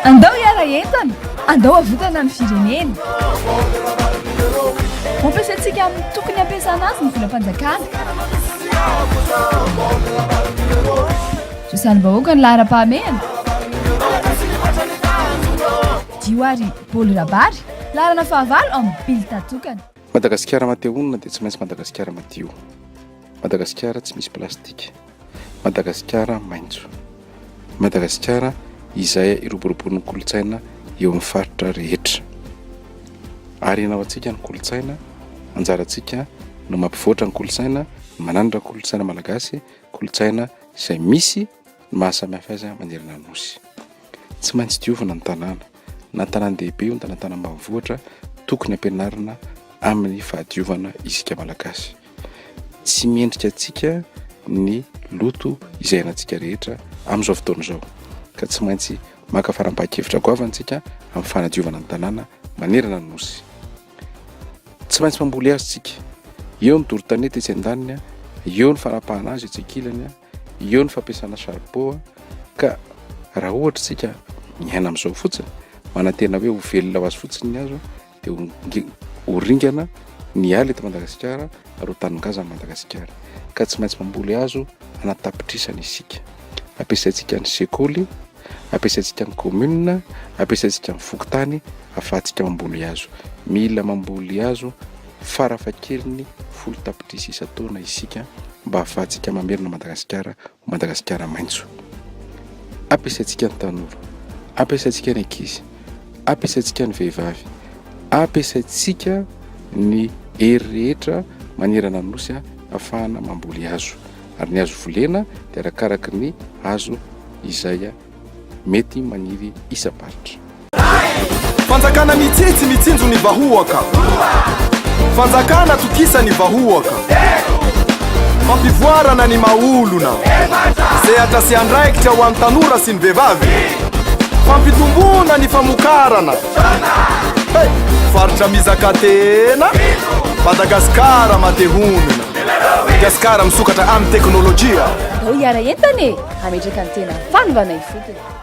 Andao hiara entana, andao havotana ny firenena. Ampiasaintsika amin'ny tokony hampiasana azy ny volam-panjakana. Zo salim-bahoaka ny laharam-pahamehana. Dio ary Bolo Rabary, laharana fahavalo amin'ny bilta tokana. Madagasikara mate honina dia tsy maintsy Madagasikara madio. Madagasikara tsy misy plastika. Madagasikara maitso. Madagasikara izay iroboroboan'ny kolontsaina eo amin'ny faritra rehetra. Harena ho antsika ny kolontsaina, anjarantsika no mampivoatra ny kolontsaina, manandratra ny kolontsaina malagasy, kolontsaina izay misy ny mahasamihafa azy manerana ny Nosy. Tsy maintsy diovina ny tanàna, na ny tanàn-dehibe io na ny tanàna ambanivohitra, tokony ampianarina amin'ny fahadiovana isika malagasy. tsy mendrika antsika ny loto izay anantsika rehetra amin'izao fotoana izao ka tsy maintsy maka fanapahan-kevitra goavana antsika amin'ny fanadiovana ny tanàna manerana ny nosy. Tsy maintsy mamboly hazo tsika. Eo ny doro-tanety etsy an-daniny, eo ny fanapahana azy etsy an-kilany, eo ny fampiasana charbon ka raha ohatra tsika miaina amin'izao fotsiny, manantena hoe ho velona ho azy fotsiny ny hazo Dia ho ringana ny ala eto Madagasikara ary ho tanin-gazan'i Madagasikara, ka tsy maintsy mamboly hazo hanatapitrisany isika. Ampiasaintsika ny sekoly, ampiasaintsika ny kaominina, ampiasaintsika ny fokontany ahafahantsika mamboly hazo. Mila mamboly hazo farafahakeliny folo tapitrisa isan-taona isika mba ahafahantsika mamerina an'i Madagasikara Madagasikara maitso. Ampiasaintsika ny tanora, ampiasaintsika ny ankizy, ampiasaintsika ny vehivavy, ampiasaintsika ny hery rehetra manerana ny Nosy hahafahana mamboly hazo. Ary ny hazo volena dia arakaraky ny hazo izay. mety maniry isam-paritra. Fanjakana mitsitsy mitsinjo ny vahoaka. Fanjakana tokisa ny vahoaka. Fampivoarana ny maha olona. Sehatra sy andraikitra ho an'ny tanora sy ny vehivavy. Fampitomboana ny famokarana. Hey! Faritra mizaka tena. Madagasikara mate honina. Gascar misokatra amin'ny teknolojia. Andao hiara-entana e! Hametraka ny tena fanovana ifotony.